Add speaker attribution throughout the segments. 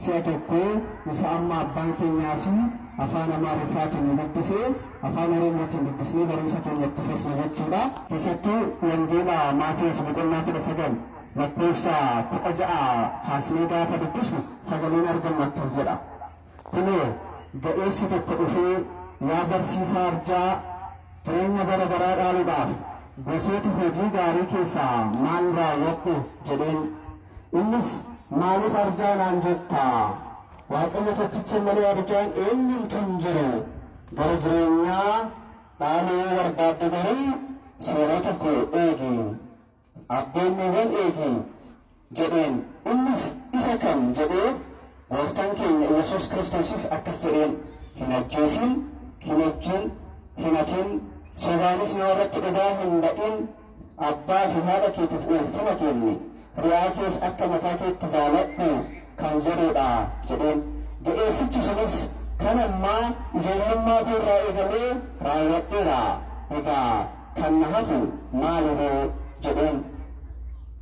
Speaker 1: Si'a tokko isa amma abbaan keenya asii afaan Amaariffaatiin nu dubbise afaan Oromootiin dubbisnee barumsa keenya itti fufna jechuudha. Keessattuu Wangeela Maatewos boqonnaa 19 lakkoofsa 16 kaasnee gaafa dubbisnu sagaleen argannu akkas jedha, Kunoo, ga'eessi tokko dhufee, Yaa barsiisaa arjaa, jireenya bara baraa dhaaluudhaaf gosoota hojii gaarii keessaa maal raawwadhu? jedheen. Innis, Maaliif arjaa naan jetta? Waaqayyo tokkicha malee arjaan eenyumtuu hin jiru. Bara jireenyaa dhaalu yoo barbaadde garuu seerota koo eegi, abboommiiwwan eegi jedheen. Innis, Isa kam? jedhee Gooftaan keenya Yesuus Kiristoosis akkas jedheen, Hin ajjeesiin, hin ejjiin, hin hatiin, sobaanis nama irratti dhugaa hin ba'in, Abbaa fi haadha keetiif ulfina kenni, ri'aa kees akka mataa keetti jaaladhu kan jedhuu dha jedheen. Ga'eessichi sunis, Kan ammaa ijoollummaa koo irraa eegalee raawwadheera, egaa kan na hafu maali ree? jedheen.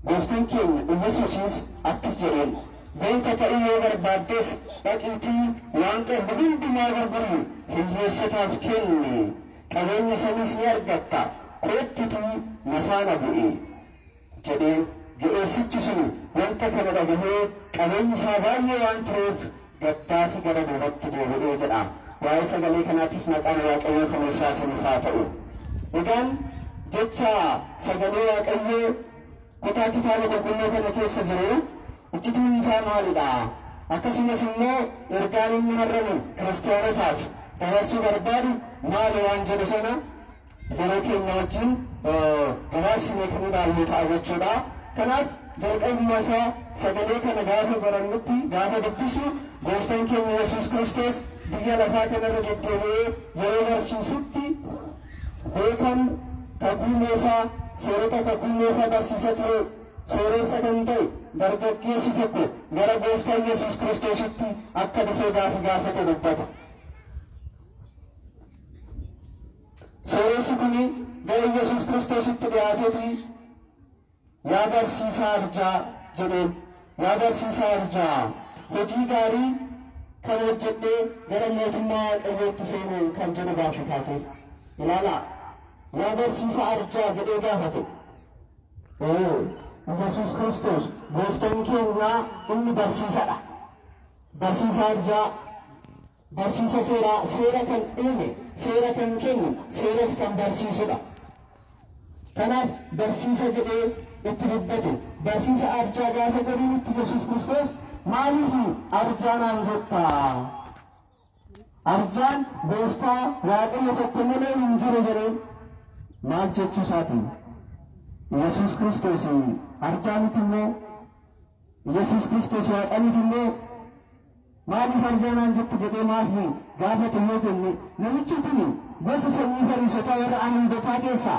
Speaker 1: Gooftan keenya Iyyasuusis akkas jedheen, Beeka ta'uu yoo barbaaddes dhaqiitii waan qabdu hundumaa gurgurii hiyyeessotaaf kenni, qabeenya saniis ni argatta, koottutii na faana bu'i jedheen. Ga'eessichi suni wanta kana dhagahee qabeenyi isaa baay'ee waan tureef gaddaati gara duubatti deebi'e jedha. Waa'ee sagalee kanaatiif maqaan Waaqayyoo kan ulfaataniif haa ta'u. Egaan jecha sagalee Waaqayyoo Kutaa Kitaaba Qulqulluu kana keessa jiru iccitiin isaa maali dha? Akkasumas immoo ergaan inni har'a nu Kiristiyaanotaaf dabarsuu barbaadu maali waan jedhu sana yeroo keenya wajjin gabaabsinee kan ilaallu ta'a jechuu dha. Kanaaf jalqabuma isaa sagalee kana gaafa barannutti, gaafa dubbisnu Gooftan keenya Yesuus Kiristoos biyya lafaa kanarra deddeebi'ee yeroo barsiisutti, Beekan Kakuu Moofaa seerota Kakuu Moofaa barsiisa ture. Sooreessa kan ta'e dargaggeessi tokko gara Gooftaa Yesuus Kiristoositti akka dhufe gaafi gaafate dubbata. Sooreessi kuni gara Yesuus Kiristoositti dhiyaatetii Yaa barsiisaa arjaa! jedheen. Yaa barsiisaa arjaa! Hojii gaarii kan hojjedhee gara mootummaa Waaqayyootti seene kan jedhu gaaffii kaaseef. Ilaalaa! Yaa barsiisaa arjaa! jedhee gaafate. Ee, Yesuus Kiristoos gooftaan keenyaa inni barsiisadha. Barsiisaa arjaa! Barsiisa seeraa, seera kan uume, seera kan kennu, seeras kan barsiisudha. Kanaaf barsiisa jedhee itti dubbate. Barsiisa arjaa gaafa jedhinitti Yesuus Kiristoos maaliif arjaa naan jetta? Arjaan gooftaa waaqayyo tokko malee hin jiru jedheen maal jechuu isaati? Yesuus Kiristoos arjaa miti immoo Yesuus Kiristoos waaqa miti immoo Maaliif arjaa naan jette jedhee maaf nu gaafate yoo jenne namichi kun gosa sanyii fariisotaa warra Ayihudotaa keessaa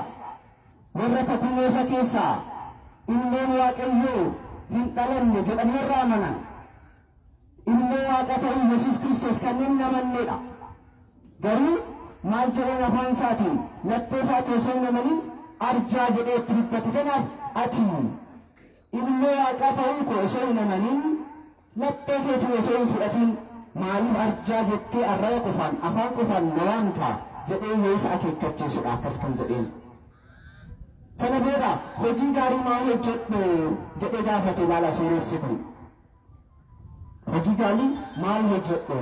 Speaker 1: warra kakuu moofa keessaa ilmoon Waaqayyoo hin dhalanne jedhan warra amanan ilmoo Waaqa ta'uu Yesuus Kiristoos kanneen hin amanneedha. Garuu maal jedheen afaan isaatiin laphee isaatti osoo hin amanin arjaa jedhee itti dubbate kanaaf ati Ilmoo Waaqaa ta'uu koo osoo hin amaniin, laphee keetiin osoo hin fudhatiin, maaliif arjaa jettee arraba qofaan, afaan qofaan na waamta? jedhee yoo isa akeekkachiisu dha akkas kan jedheen. Sana booda, Hojii gaarii maal hojjedhu? jedhee gaafate ilaala sooressi kun. Hojii gaarii maal hojjedhe?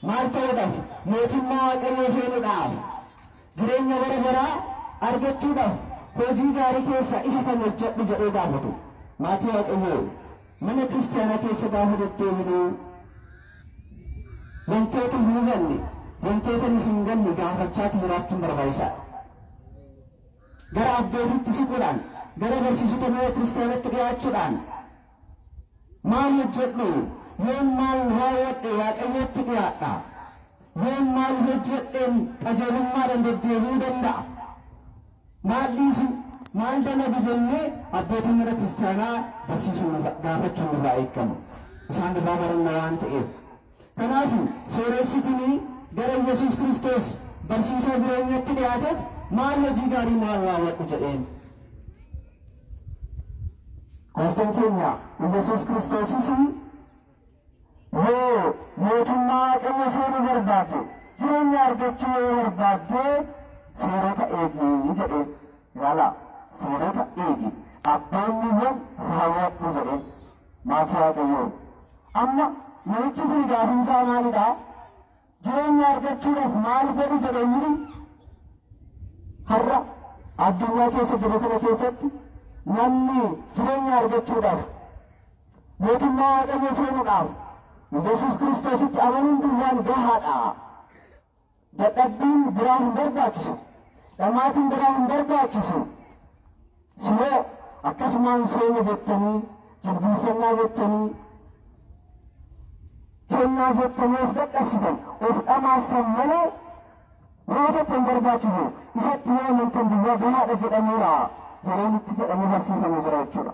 Speaker 1: Maal ta'uudhaaf? Mootummaa Waaqayyoo seenuudhaaf. Jireenya bara baraa argachuudhaaf hojii gaarii keessaa isa kam hojjedhu jedhee gaafatu. Maatii Waaqayyoo mana kiristaanaa keessa gaafa deddeebinu wantoota hin hubanne, wantoota nuuf hin galle gaafachaati jiraachuun barbaachisaadha. Gara abbootiitti siquudhaan, gara barsiisota mana kiristaanatti dhiyaachuudhaan Maal hojjedhu? Yoon maal raawwadhe Waaqayyootti dhiyaadha? Yoon maal hojjedheen qajeelummaadhaan deddeebi'uu danda'a? Maal dhiisu? Maal dalagu jennee abbootii mana kiristaanaa barsiisuun irra- gaafachuun nurraa eegama. Isaan irraa baranna waan ta'eef. Kanaaf sooressi kun gara Yesuus Kiristoos barsiisaa jireenyatti dhiyaateef maal hojii gaarii maal raawwadhu jedheen.
Speaker 2: Gooftan keenya Iyyasuus Kiristoosis yoo mootummaa Waaqayyo seenu barbaadde jireenya argachuu yoo barbaadde seerota eegi jedhee ilaala seerota eegi abboommiiwwan raawwadhu jedhee maatii Waaqayyoo amma namichi kun gaafiin isaa maalidha? Jireenya argachuudhaaf maal godhu jedhanii har'a addunyaa keessa jirru kana keessatti namni jireenya argachuudhaaf mootummaa waaqayyoo seenuudhaaf Yesuus Kiristoositti amanuun duwwaan gahaadha. Dadhabbiin biraa hin barbaachisu. Dhamaatiin biraa hin barbaachisu. Siree akkasumaan seena jettanii jilbiiffannaa jettanii kennaa jettanii of dadhabsitan of dhamaastan malee waa tokko hin barbaachisu isatti yoo amantan duwwaa gahaadha jedhameera yeroo nutti jedhamee barsiifamu jira jechuudha.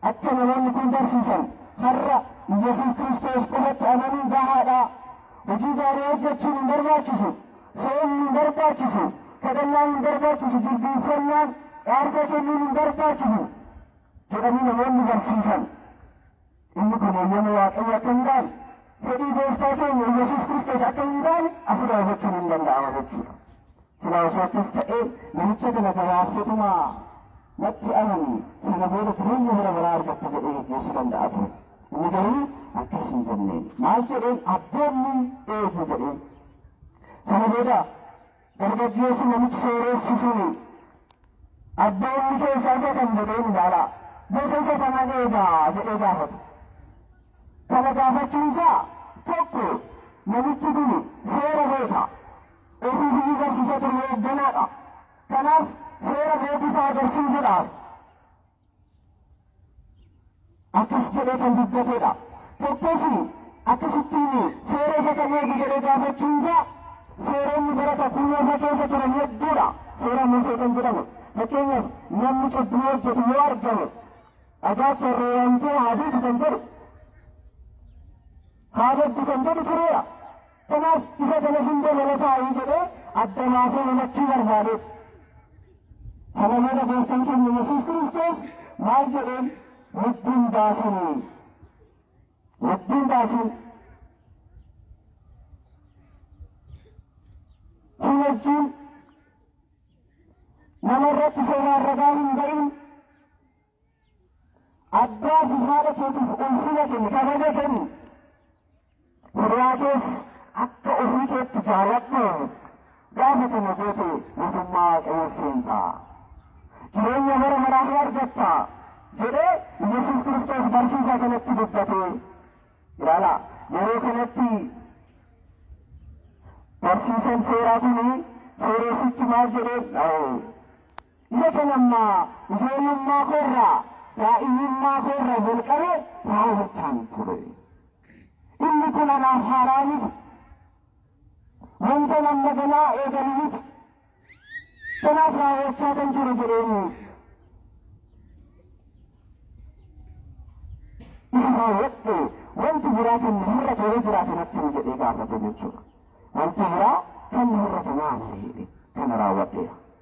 Speaker 2: Akka namoonni kun barsiisan har'a Iyyasuus Kiristoos qofatti amanuun gahaadha. Hojii gaarii hojjechuun hin barbaachisu. Soomni hin barbaachisu. Kadhannaan hin barbaachisu. Jilbiinfannaan aarsaa kennuun hin barbaachisu. jedhanii namoonni barsiisan. Inni kun eeyyama Waaqayyo akka hin taane, fedhii gooftaa keenya Iyyasuus Kiristoos akka hin taane asirraa hubachuun hin danda'ama jechuudha. Silaa osoo akkas ta'ee namicha kana gabaabsatuma natti amani sana booda jireenya bara baraa argatta jedhee geggeessuu danda'a ture. Inni garuu akkas hin jenneen. Maal jedheen abboonni eegu jedheen. Sana booda dargaggeessi namichi sooressi suni abboonni keessaa isa kam jedheen ilaalaa gosa isa kanan eegaa jedhee gaafate. Kana gaafachuun isaa tokko namichi kun seera beeka. Boordii biyyi barsiisa ture hoogganaadha. Kanaaf seera beekuusaa agarsiisuudhaaf akkas jedhee kan dubbatedha. Tokkos akkasittiin seera isa kan eegu jedhee gaafachuunsaa seeronni bara kakuu moofaa keessa turan hedduudha. Seera Musee kan jedhamu fakkeenyaaf namni cubbuu hojjetu yoo argame dhagaa carree waamtee haa duutu kan jedhu haa baddu kan jedhu tureera. Kanaaf isa kana hundee jala taa'ii jedhee adda baasee hubachuu barbaade. Sana booda gooftaan keenya Yesuus Kiristoos maal jedheen lubbuun baasin lubbuun baasin si wajjin nama irratti seeraan ragaa hin ba'in Abbaa fi haadha keetiif ulfina kenni, kabaja kenni. Hiriyaa kees akka ofii keetti jaaladhu. Gaafa kana goote mootummaa Waaqayyoo seenta. Jireenya bara baraa ni argatta jedhee Yesuus Kiristoos barsiisaa kanatti dubbatee ilaala. Yeroo kanatti barsiisan seeraa kun sooreessichi maal jedhee Isa kan amma ijoollummaa koo irraa, daa'imummaa koo irraa jalqabee raawwachaan ture. Inni kun anaaf haaraa miti. Wanta amma ganaa eegalu miti. Kanaaf raawwachaa kan jiru jedheen isa raawwadhe wanti biraa kan na hir'atu yoo jiraate natti himi jedhee gaafate jechuudha. Wanti biraa kan na hir'atu maali jedhe kana raawwadheera.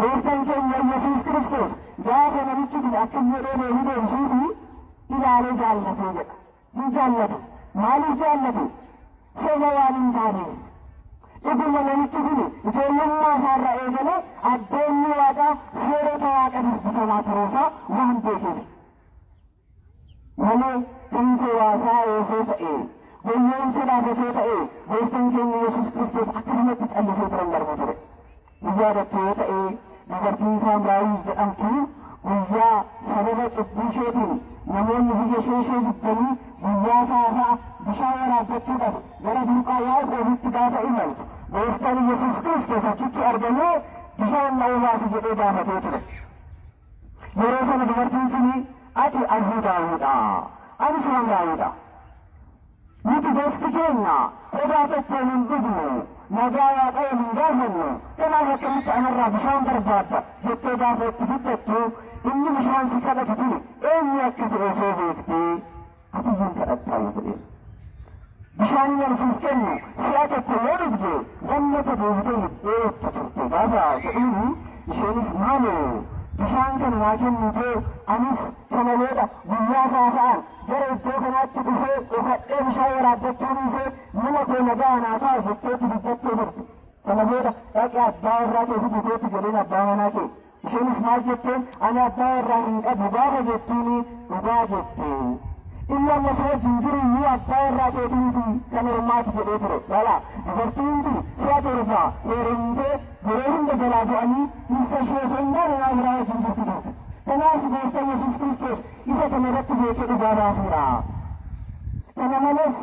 Speaker 2: Gooftaan keenya Yesuus Kiristoos gaafa namichi kun akkas jedhee deebii deebisuu fi ilaalee jaallatee jedha. Hin jaallatu. Maaliif jaallatu? Soba waan hin taaneef. Dhuguma namichi kun ijoollummaa isaarraa eegalee abboommii waaqaa seerota waaqa dubbifamaa turuusaa waan beekeef. Nama kamiisa waasaa osoo ta'ee, goyyoomsuudhaaf osoo ta'ee, Gooftaan keenya Yesuus Kiristoos akkasumatti callisee bira hin darbu ture. Ni yaadattu yoo ta'e, dubartiin Saamraawii jedhamtu guyyaa sababa cubbuu isheetiin namoonni biyya ishee ishee jibbanii guyyaa saafaa bishaan waraabbachuudhaaf gara burqaa Yaaqoobitti gaafa imaltu, Gooftaan Yesuus Kiristoos achitti argamee bishaan na obaasi jedhee gaafatee ture. Yeroo sana dubartiin suni ati Ahudaawidha, ani Samraayidha. Nuti gosti keenya qodaa tokkoon hin dhugnu, nagaa Waaqayyoon hin gaafannu, kanaaf akkamitti anarraa bishaan barbaadda jettee gaafa itti guddattu inni bishaan si kadhatu kun eenyu akka ta'e osoo beektee Ati hin kadhattaam jedheen. Bishaan nan siif kenne si'a tokko yoo dhugde lammata deebitee hin dheebottu turte gaafa jedhuuni isheenis maaloo bishaan kana naa kennitee anis kana booda guyyaa saafa'aan gara iddoo kanaatti dhufee dhokadhee bishaan waraabbachuu dhiisee mana koo nagaa naa ta'a jetteetti dubbattee turte. Sana booda dhaqi abbaa warraa kee fidi kootu jedheen abbaa manaa kee. Isheenis maal jetteen? Ani abbaa warraa hin qabu gaafa jettuuni dhugaa jette. Ilma amma si wajjin jiru iyyuu abbaa warraa keetii miti kan ormaati jedhee ture. Lala, dubartii hundi si'a torba heerumtee yeroo hunda jalaa du'anii dhirsa ishee osoo hin taane nama biraa wajjin jirti turte. Kanaaf gooftan Yesuus Kiristoos isa kana irratti beekee dhugaa baaseera. Kana malees.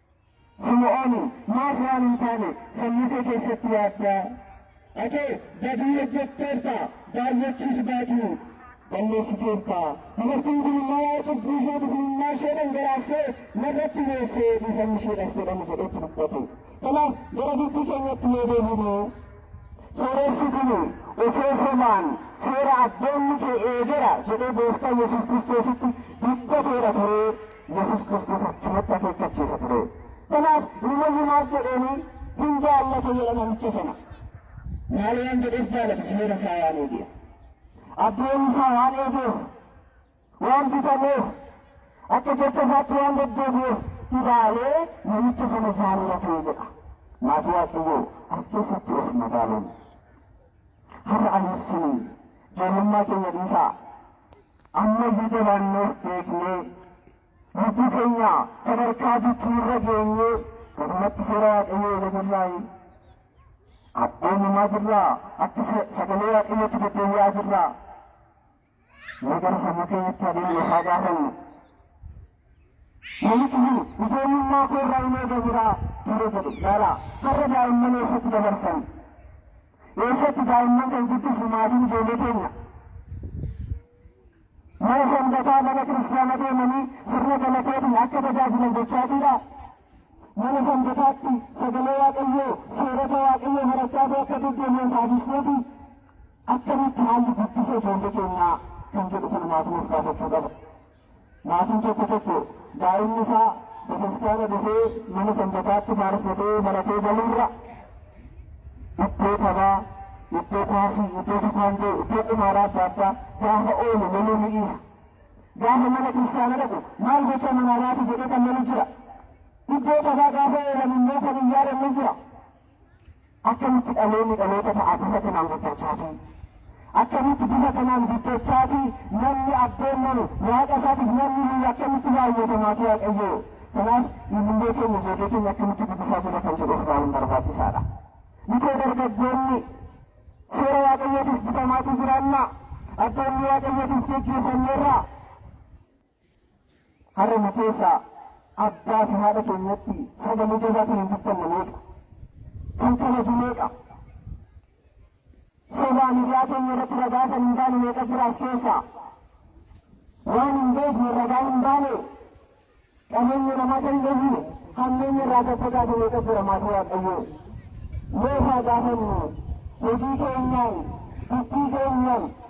Speaker 2: Simi'ooni, maaf waan hin taane sammuu kee keessatti yaadda? Ati badii hojjetteerta, baay'achuus baatu balleessiteerta. Dubartiin kun immoo waa'ee cubbuu isheetiif imimmaan ishee dhangalaastee narratti boosee dhiifamni isheedhaaf godhame jedhetti dubbate. Kanaaf gara dubbii keenyatti yoo deebinu sooressi kun osoo sobaan seera abboommii kee eegera jedhee gooftaa Yesuus Kiristoositti dubbateera turee Yesuus Kiristoos achirratti akeekkachiisa ture. Kanaaf namoonni maal jedheeni hin jaallata jedha namicha sana. Maal waan jedheef jaalata seera isaa waan eegeef. Abboommii isaa waan eegeef, waan bitameef, akka jecha isaatti waan deddeebi'eef ilaalee namicha sana jaallate jedha. Maatii Waaqayyoo as keessatti of madaaluun har'a anuusin ijoollummaa keenya dhiisaa Ammayyu jabaannee of beeknee lubbuu keenya sadarkaa jijjiirra geenyee dhugumatti seera Waaqayyoo eega jirraayi. Abboomamaa jirraa akka sagalee Waaqayyootti deddeebi'aa jirraa. Mee gara sammuu keenyatti adeemnu haa gaafannu. Mucichi ijoollummaa koo irraa hin eega jira ture jedhe. Laala har'a daa'imman eessatti dabarsan? Eessatti daa'imman kan guddisu maatiin ijoollee keenya? Mana sanbataa mana kiristaana deemanii sirna galataatiin akka tajaajilan gochaatiidha. Mana sanbataatti sagalee waaqayyoo seerota waaqayyoo barachaatee akka deddeebi'an taasisneeti. Akkamitti haalli guddisa ijoollee keenyaa kan jedhu sana maatiin of gaafachuu qaba. Maatiin tokko tokko daa'imni isaa bataskaana dhufee mana sanbataatti faarfatee baratee galuurra iddoo taphaa, iddoo kuwaasii, iddoo tikaandoo, iddoo qumaaraa adda addaa gaafa oolu loluu ni dhiisa. Gaafa mana kiristaana dhaqu maal gochaa manaa baate jedhee kan lolu jira. Iddoo taphaa gaafa oolan immoo kan hin yaadan ni jira. Akkamitti dhaloonni dhaloota ta'a bifa kanaan guddachaa fi akkamitti bifa kanaan guddachaa fi namni abboommanu waaqa isaatiif namni hiyyu akkamitti baay'atamaa fi waaqayyoo kanaaf ilillee keenya ijoollee keenya akkamitti guddisaa jira kan jedhu of ilaaluun barbaachisaadha. Mikoo dargaggoonni seera waaqayyootiif bitamaatii jiraannaa abboommii waaqayyootiif geggeeffamneerraa Har'a nu keessaa abbaa fi haadha keenyatti sagalee jabaa kan hin dubbanne meeqa? Kan kabaju meeqa? Sobaan hiriyaa keenya irratti ragaa kan hin baane meeqa jira as keessaa? Waan hin beekne ragaa hin baane qabeenya namaa kan hin eegne hammeenya irraa kan fagaate meeqa jira maatii Waaqayyoo? Meeqa gaafannu hojii keenyaan, dubbii keenyaan,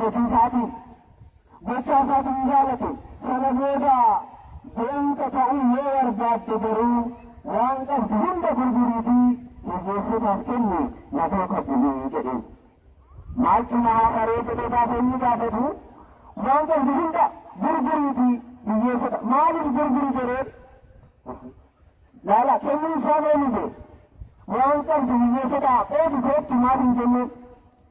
Speaker 2: hojii isaatiin gochaa isaatiin jaalate sana booda beeyta ta'uu yoo barbaadde garuu waan qabdu hunda gurguriitii hiyyeessotaaf kenni na duuka buli jedheen. Maaltu na haafaree jedhee gaafa inni gaafatu waan qabdu hunda gurguriitii hiyyeessota maaliif gurguri jedheen. Laala kennuun isaa mee mite waan qabdu hiyyeessotaa qoodi koottu maaf hin jenneen.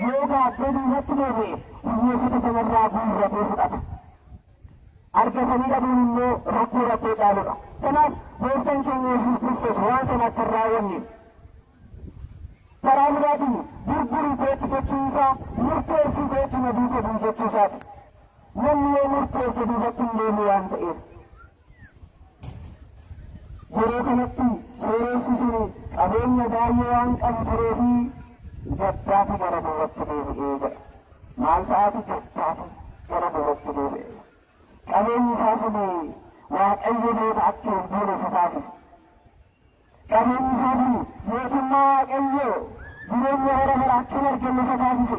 Speaker 2: Yoo baattee duubatti deebi'e hiyyeessota sanarraa guurratee fudhata. Argatanii dhabuun immoo rakkoo rakkoo caaludha. Kanaaf gooftaan keenya Yesuus Kiristoos waan sana akka hin raawwanne karaa biraatiin gurgurii kootu jechuu isaa murteessii kootu na duuka bu'i jechuu isaati. Namni yoo murteesse duubatti hin deemu waan ta'eef. Yeroo kanatti sooressi sun qabeenya baay'ee waan qabu turee fi gaddaati gara duubatti deebi'ee jedha. Maal fa'aati gaddaati gara duubatti deebi'ee? Qabeenyi isaa sun Waaqayyo booda akka hin buune isa taasise. Qabeenyi isaa sun mootummaa Waaqayyoo jireenya bara bara akka hin arganne isa taasise.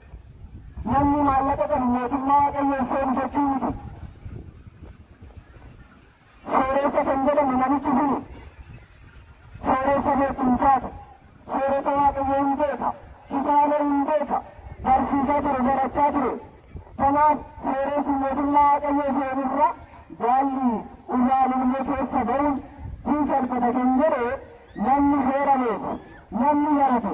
Speaker 2: Namni maallaqa qabu mootummaa Waaqayyoo seenu jechuu miti. Sooreessa kan jedhamu namichi suni sooreessa beekumsaati. Seerota Waaqayyoo hin beeka. Kitaaba hin beeka. Barsiisaa ture, barachaa ture. Kanaaf sooreessi mootummaa Waaqayyoo seenurra gaalli irraa lullee keessa ba'uun hin salphata kan jedhe namni seera beeku, namni barate,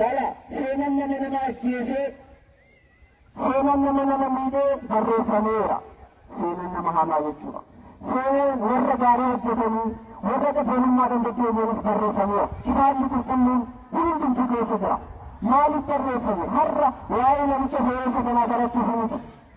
Speaker 2: Jara seenan nama nama ajjeesee, seenan nama nama miidhee barreeffameera. Seenan nama hamaa jechuudha. Seenan warra gaarii hojjetanii, warra qajeelummaadhaan deddeebi'anis barreeffameera. Kitaabni qulqulluun kun hundumtuu keessa jira. Maaliif barreeffame? Har'a waa'ee namicha sooreessa kanaa barachuuf miti.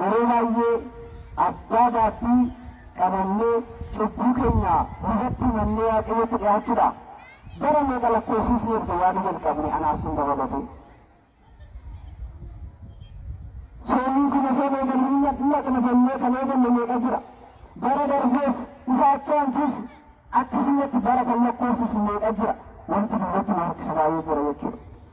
Speaker 2: Yeroo baay'ee abbaa gaabbii qabannee cubbuu keenya lubatti himannee Waaqayyotti dhiyaachuudha. Bara meeqa lakkoofsisne erga yaaduu jalqabne anaaf sin dabalatee. Soomii kun osoo hin eegamin hin dhaqna jennee kan eegalle meeqa jira? Bara darbees isa achi aantus akkasumatti bara kan lakkoofsisnu meeqa jira? Wanti duubatti nu harkisu baay'ee jira jechuudha.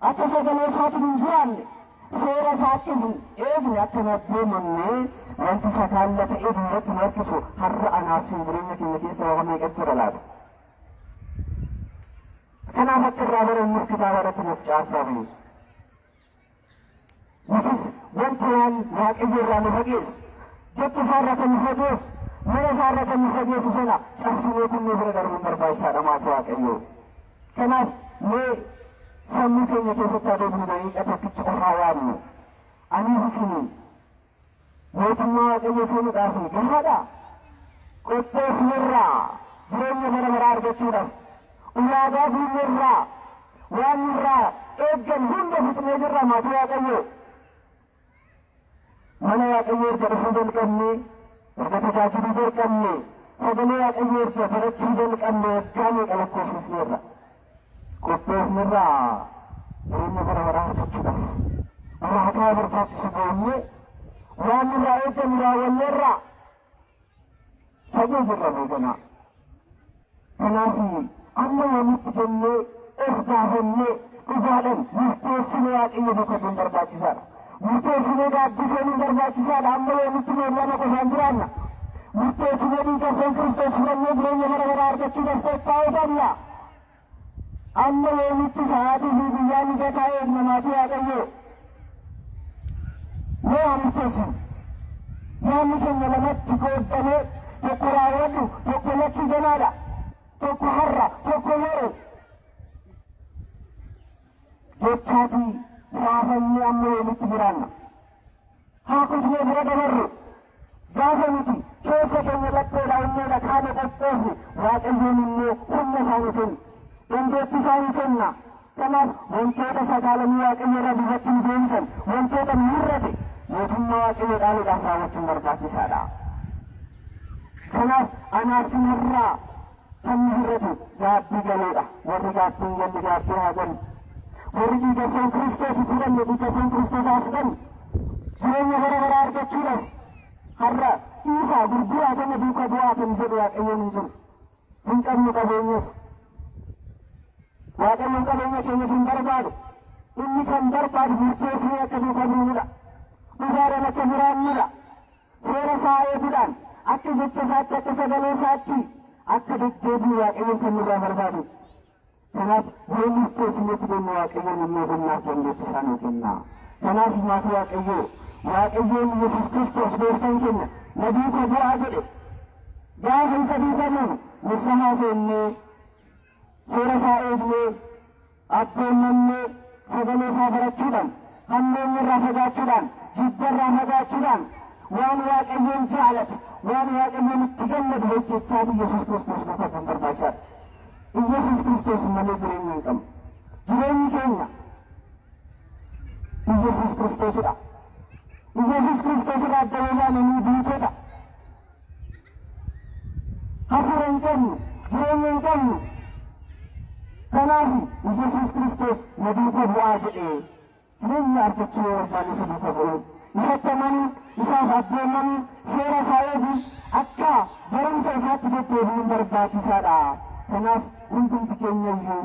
Speaker 2: Akka sagalee isaatiin hin jiraanne, seera isaatti hin eegne, akka hin abboomamne, wanti sakaalla ta'ee duubatti nu harkisu har'a anaaf sin jireenya keenya keessa waama meeqa jira laata? Kanaaf akka irraa barannuuf kitaaba irratti nuuf caafame. Nutis wanta waan Waaqayyo irraa nu fageessu, jecha isaa irraa kan nu fageessu, mana isaa irraa kan nu fageessu sana cabsinee kun nu bira darbuun barbaachisaadha maaf Waaqayyo. Kanaaf mee sammuu keenya keessatti haa deebinu daqiiqa tokkicha of haa yaadnu. Aniif isiniin. Mootummaa Waaqayyoo seenuudhaaf gahaadhaa? Qottee fularraa jireenya bara baraa argachuudhaaf ulaagaa guunneerraa waan nurraa eeggan hunda fixnee jirra maatii Waaqayyoo. Mana Waaqayyoo erga dhufuu jalqabnee erga tajaajiluu jalqabnee sagalee Waaqayyoo erga barachuu jalqabnee waggaa meeqa lakkoofsisneerra. qophoofnerraa jireenya bara baraa argachuudhaaf ulaagaa barbaachisu goonee waan nurraa eegamu raawwanneerraa fagoo jirra beekanaa. Kanaaf amma yoomitti jennee of gaafannee dhugaadhaan murteessinee waaqayyo duukaa bu'uun barbaachisaadha. Murteessinee gaaddiseen hin barbaachisaadha. Amma yoomitti nuun lama qofaan jiraanna. Murteessinee dhiigarreen Kiristoos fudhannee jireenya bara baraa argachuu dafteef taa'uu qabna. Amma yoomitti sa'aatii fi guyyaa mijataa eegna maatii Waaqayyoo. Mee haa murteessinu. Yaanni keenya lamatti qooddamee tokko raawwadhu tokko lakkii ganaadha. Tokko har'a tokko yeroo. jechaa fi raafamni amma yoomitti jiraanna? Haa kufnee bira dabarru. Gaafa nuti keessa keenya lapheedha onneedha qaama qophoofne Waaqayyoon immoo humna isaa nu kenna. Dandeettii isaa nu kenna. Kanaaf wantoota sagaalamii Waaqayyo irraa duubatti nu deebisan wantoota nu hir'ate mootummaa Waaqayyo dhaaluudhaaf raawwachuun barbaachisaadha. Kanaaf anaaf sinarraa Sabni hir'atu gaaffii galeedha. Warri gaaffii hin galle gaaffii haa galu. Warri dhiiga foon Kiristoos hin fudhanne dhiiga foon Kiristoos haa fudhanu. Jireenya bara baraa argachuudhaaf har'a dhiisaa gurguraa sana duuka bu'aa kan jedhu Waaqayyoon hin jiru. Hin qabnu qabeenyas. Waaqayyoon qabeenya keenyas hin barbaadu. Inni kan barbaadu murteessinee akka duuka buunudha. Dhugaadhaan akka jiraannudha. Seera isaa eeguudhaan akka jecha isaatti, akka sagalee isaatti akka deddeebinu Waaqayyoon kan nurraa barbaadu. Kanaaf yoo murteessinetti deemnu Waaqayyoon inni ogummaaf dandeetti isaa nuu kenna. Kanaaf maatii Waaqayyoo Waaqayyoon Yesus Kiristoos gooftaan keenya na duuka bu'aa jedhe gaafa isa duuka buunu nissahaa seennee Seera isaa eegnee, abboommamnee, sagalee isaa barachuudhaan, hammeenya irraa fagaachuudhaan, jibba irraa fagaachuudhaan, waan Waaqayyoon jaalatu, waan Waaqayyoon itti gammadu hojjechaa Iyyasuus Kiristoos duukaa bu'uun barbaachisaadha. Iyyasuus Kiristoos malee jireenya hin qabnu. Jireenyi keenya Iyyasuus Kiristoosidha. Iyyasuus Kiristoos irraa adda yoo baane nu duutota. hafuura hin qabnu, jireenya hin qabnu. Kanaaf Yesuus Kiristoos na duuka bu'aa jedhee jireenya argachuu yoo barbaanne isa duuka bu'uu, isatti amanuu, isaaf abboomamuu, seera isaa eeguu, akka barumsa isaatti deddeebi'uun barbaachisaadha. Kanaaf hundumti keenya iyyuu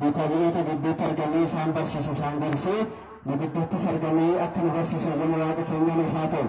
Speaker 1: Duukaa bu'oota gidduutti argamee isaan barsiise, isaan gorse, nu gidduuttis argamee akka nu barsiisu hayyama Waaqa keenyaa nuuf haa ta'u.